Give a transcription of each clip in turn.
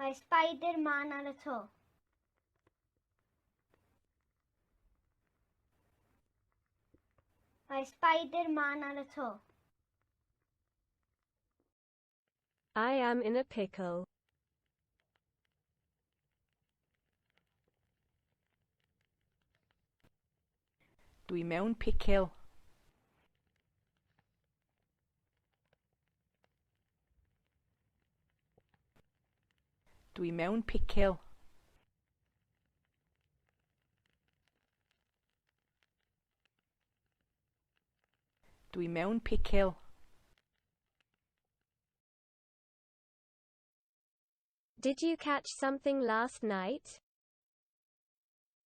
Mae Spider-Man ar y to. Mae Spider-Man ar y to. I am in a pickle. Dwi mewn picil. Dwi mewn picil. Dwi mewn picil. Did you catch something last night?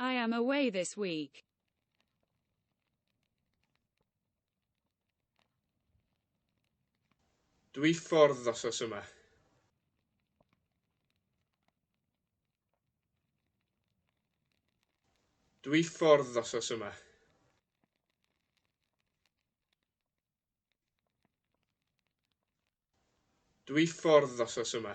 I am away this week. Dwi ffordd ddosos yma. Dwi ffordd ddosos yma. Dwi ffordd ddosos yma.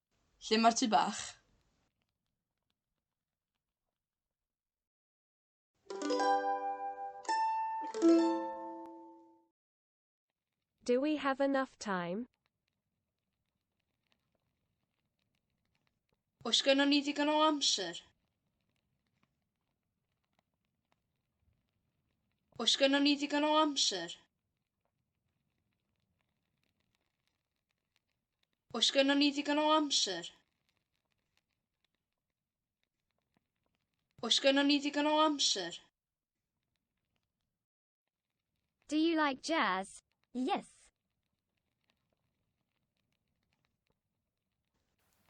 Lle mae'r tŷ bach? Do we have enough time? Oes gynnon ni ddigon o amser? Oes gynnon ni ddigon o amser? Oes gynnon ni ddigon o amser? Oes gynnon ni ddigon o amser? Do you like jazz? Yes.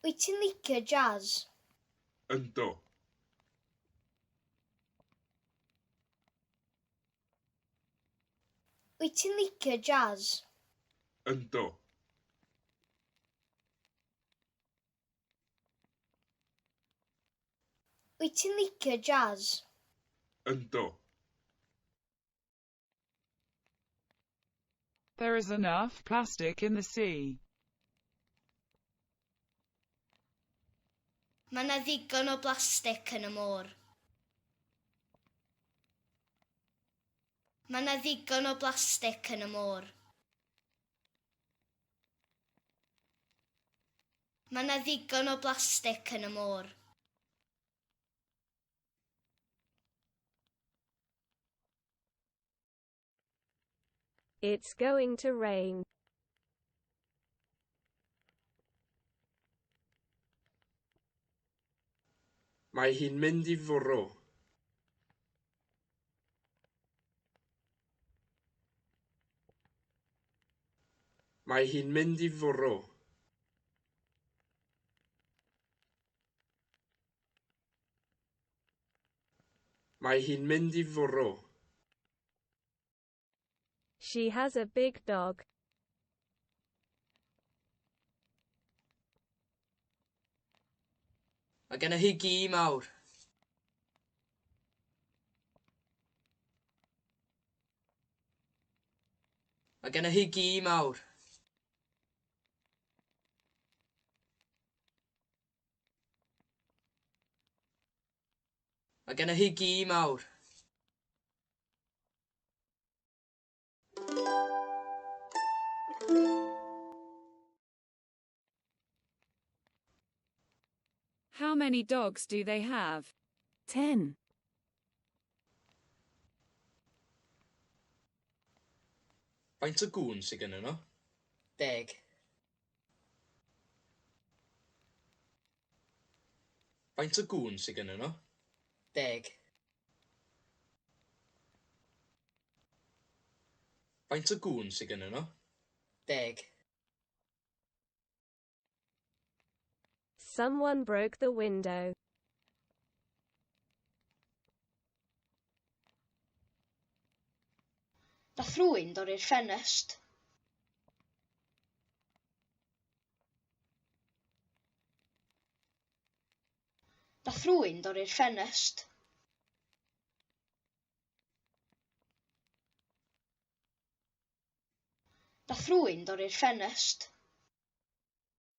Wyt ti'n licio jazz? Ynddo. Wyt ti'n licio jazz? Ynddo. Wyt ti'n licio jazz? Ynddo. There is enough plastic in the sea. Mae yna ddigon o blastig yn y môr. Mae yna ddigon o blastig yn y môr. Mae yna ddigon o blastig yn y môr. It's going to rain. Mae hi'n mynd i fwrw. Mae hi'n mynd i fwrw. Mae hi'n mynd i fwrw. She has a big dog. Mae genna hi gi mawr. Mae genna hi gi mawr. Mae gennych chi gi mawr. How many dogs do they have? Ten. Faint o gŵn sydd gennyn nhw? Deg. Faint o gŵn sy gynnyn nhw? Deg. Faint o gŵn sy gynnyn nhw? Deg. Someone broke the window. Nath rwy'n dorri'r ffenest. Nath rwy'n dorri'r ffenest. Nath rwy'n dorri'r ffenest.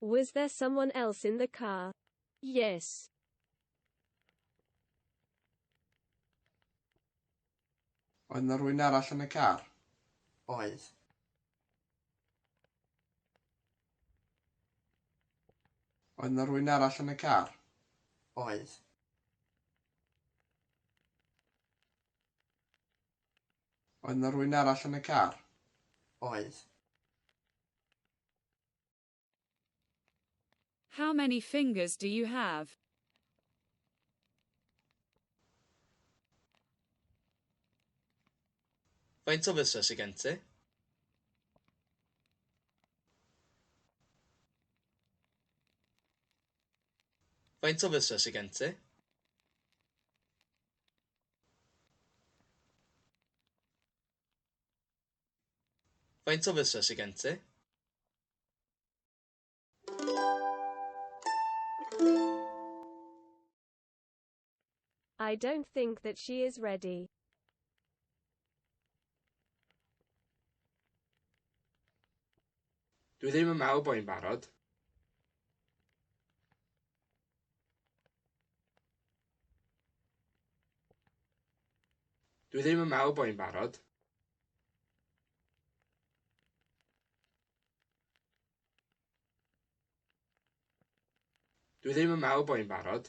Was there someone else in the car? Yes. Oedd yna rwy'n arall yn y car? Oedd. Oedd yna rwy'n arall yn y car? Oedd. Oedd 'na rywun arall yn y car? Oedd. How many fingers do you have? Faint o fysau sydd gen ti? Faint o fysau sydd gen ti? Faint o fysedd sydd gen ti? I don't think that she is ready. Dwi ddim yn meddwl bod hi'n barod. Dwi ddim yn meddwl bod hi'n barod. Dwi ddim yn meddwl bod hi'n barod.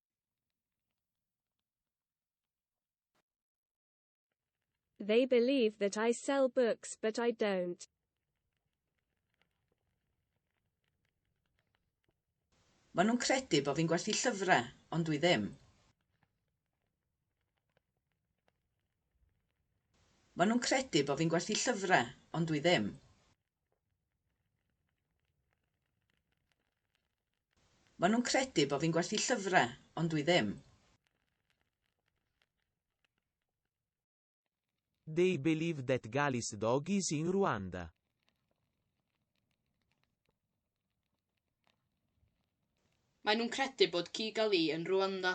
They believe that I sell books but I don't. Maen nhw'n credu bod fi'n gwerthu llyfrau, ond dwi ddim. Maen nhw'n credu bod fi'n gwerthu llyfrau, ond dwi ddim. Maen nhw'n credu bod fi'n gwerthu llyfrau, ond dwi ddim. They believe that Gali's dog is in Rwanda. Maen nhw'n credu bod ci Gali yn Rwanda.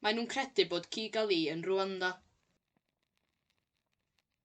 Maen nhw'n credu bod ci Gali yn Rwanda.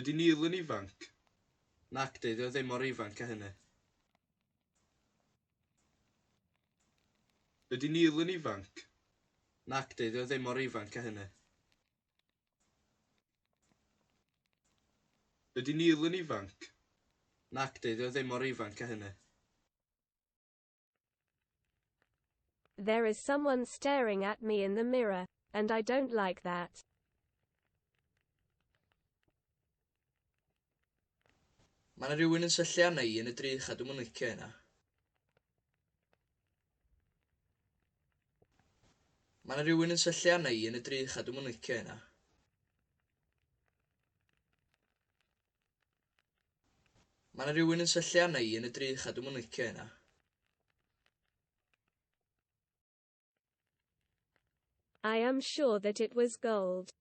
Ydy Neil yn ifanc? Nac, dydy o ddim mor ifanc â hynny. Ydy Neil yn ifanc? Nac, dydy o ddim mor ifanc â hynny. Ydy Neil yn ifanc? Nac, dydy o ddim mor ifanc â hynny. There is someone staring at me in the mirror, and I don't like that. Mae yna rhywun yn syllu arna i yn y drych a dwi'm yn licio hynna. Mae yna rhywun yn syllu arna i yn y drych a dwi'm yn licio hynna. Mae yna rywun yn syllu arna i yn y drych a dwi'm yn licio hynna. I am sure that it was gold.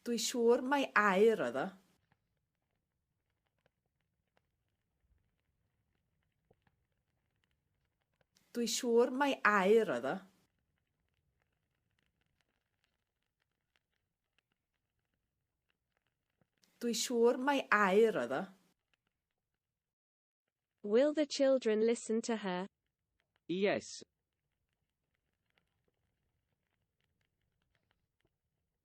Dwi siŵr mai aur oedd o. Dwi siŵr mai aur oedd o. Dwi siŵr mai air oedd o. Will the children listen to her? Yes.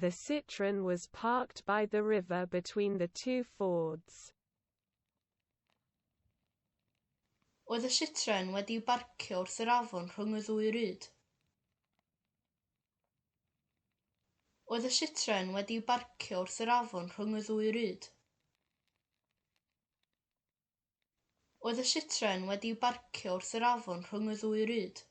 The Citroën was parked by the river between the two fords. Oedd y Citroën wedi'i barcio wrth yr afon rhwng y ddwy ryd. Oedd y Citroën wedi'i barcio wrth yr afon rhwng y ddwy ryd. Oedd y Citroen wedi'i barcio wrth yr afon rhwng y ddwy ryd.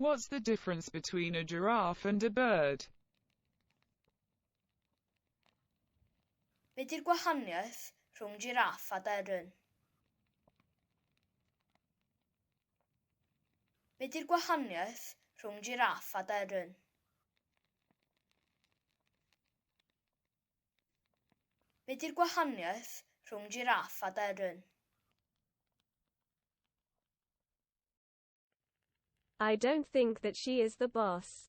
What's the difference between a giraffe and a bird? Be di'r gwahaniaeth rhwng jiraff a deryn? Be di'r gwahaniaeth rhwng jiraff a deryn? Be di'r gwahaniaeth rhwng jiraff a deryn? I don't think that she is the boss.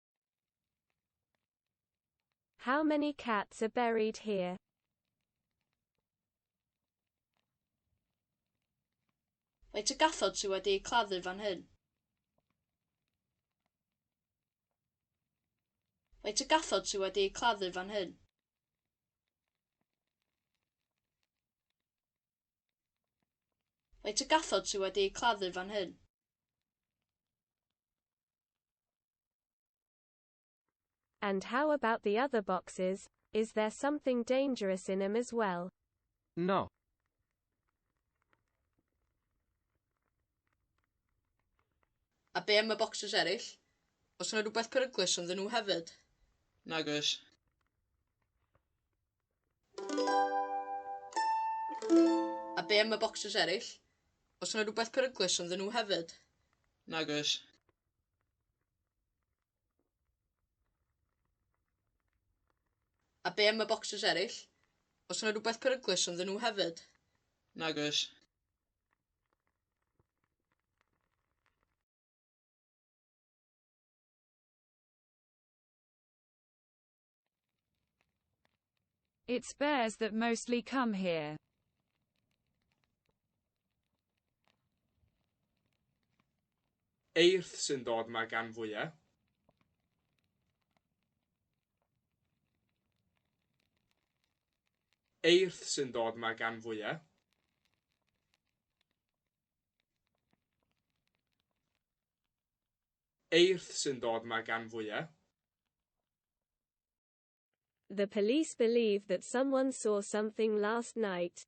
How many cats are buried here? Faint o gathod sydd wedi eu claddu fan hyn? Faint o gathod sydd wedi eu claddu fan hyn? Faint o gathod sydd wedi eu claddu fan hyn? And how about the other boxes, is there something dangerous in them as well? No. A be am y boxes eraill? Os yna rhywbeth peryglus ynddyn nhw hefyd? Nag oes. A be am y bocsys eraill? Oes yna rhywbeth peryglus ynddyn nhw hefyd? Nag oes. A be am y bocsys eraill? Oes yna rhywbeth peryglus ynddyn nhw hefyd? Nag oes. It's bears that mostly come here. Eirth sy'n dod ma gan fwya. Eirth sy'n dod ma gan fwya. Eirth sy'n dod mae'r gan fwyaf. The police believe that someone saw something last night.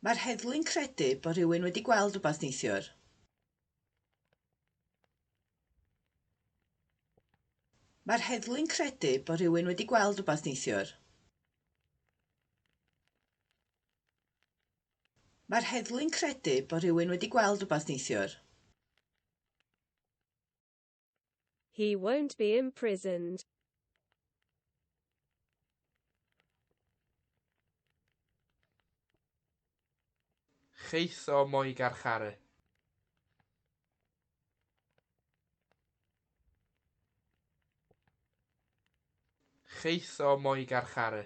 Mae'r heddlu'n credu bod rhywun wedi gweld rhywbeth neithiwr. Mae'r heddlu'n credu bod rhywun wedi gweld rhywbeth neithiwr. Mae'r heddlu'n credu bod rhywun wedi gweld rhywbeth neithiwr. He won't be imprisoned. Chith o mo'i garcharu. Chith o mo'i garcharu.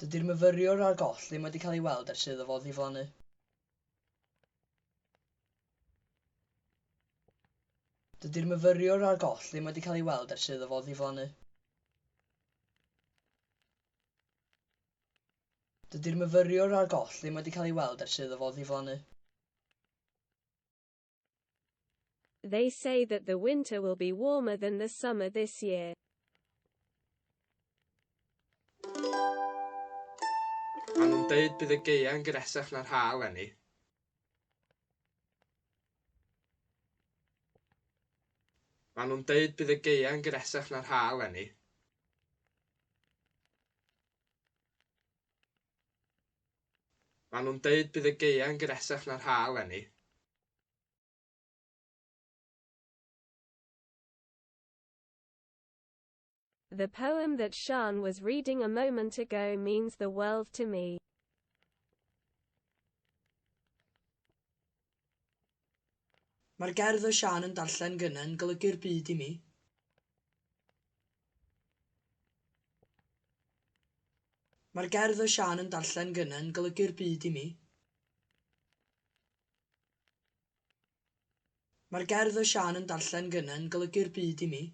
Dydy'r myfyriwr ar goll ddim wedi cael ei weld ers iddo fo ddiflannu. Dydy'r myfyriwr ar goll ddim wedi cael ei weld ers iddo fo ddiflannu. Dydy'r myfyriwr ar goll ddim wedi cael ei weld ers iddo fo ddiflannu. They say that the winter will be warmer than the summer this year. Maen nhw'n deud bydd y gaeau yn gresach na'r ha eleni. Maen nhw'n deud bydd y gaeau yn gresach na'r ha eleni. Maen nhw'n deud bydd y gaeau'n gynesach na'r ha eleni. The poem that Sian was reading a moment ago means the world to me. Mae'r gerdd oedd Siân yn darllen gynne'n golygu'r byd i mi. Mae'r gerdd oedd Siân yn darllen gynne'n golygu'r byd i mi. Mae'r gerdd oedd Siân yn darllen gynne'n golygu'r byd i mi.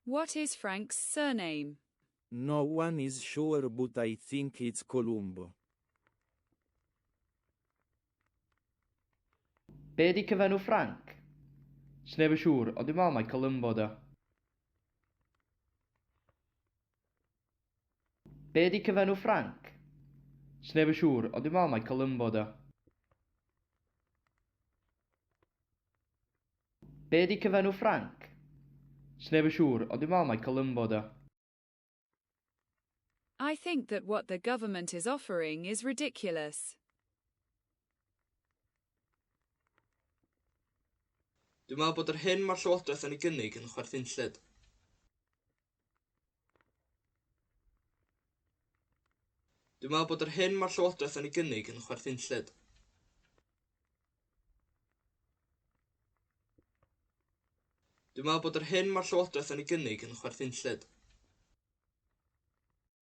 What is Frank's surname? No one is sure but I think it's Columbo. Be ydi cyfenw Frank? Sneb yn siŵr, ond dwi'n meddwl mai Columbo ydi o. Be ydi cyfenw Frank? Sneb yn siŵr, ond dwi'n meddwl mai Columbo ydi o. Be di cyfenw Ffranc? Sneb yn siŵr, ond dwi'n meddwl mai Columbo ydy o. I think that what the government is offering is ridiculous. Dwi'n meddwl bod yr hyn mae'r Llywodraeth yn ei gynnig yn chwerthinllyd. Dwi'n meddwl bod yr hyn mae'r Llywodraeth yn ei gynnig yn chwerthinllyd. Dwi'n meddwl bod yr hyn mae'r Llywodraeth yn ei gynnig yn chwerthinllyd.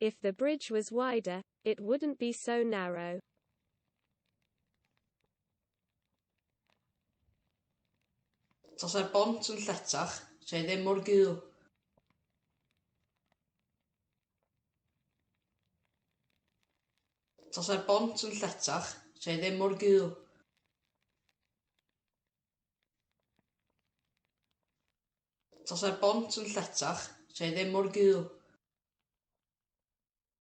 If the bridge was wider, it wouldn't be so narrow. Tasai'r bont yn lletach, se ddim mor gul. Tasai'r bont yn lletach, se ddim mor gul. Tasai'r bont yn lletach, 'sa hi ddim mor gul.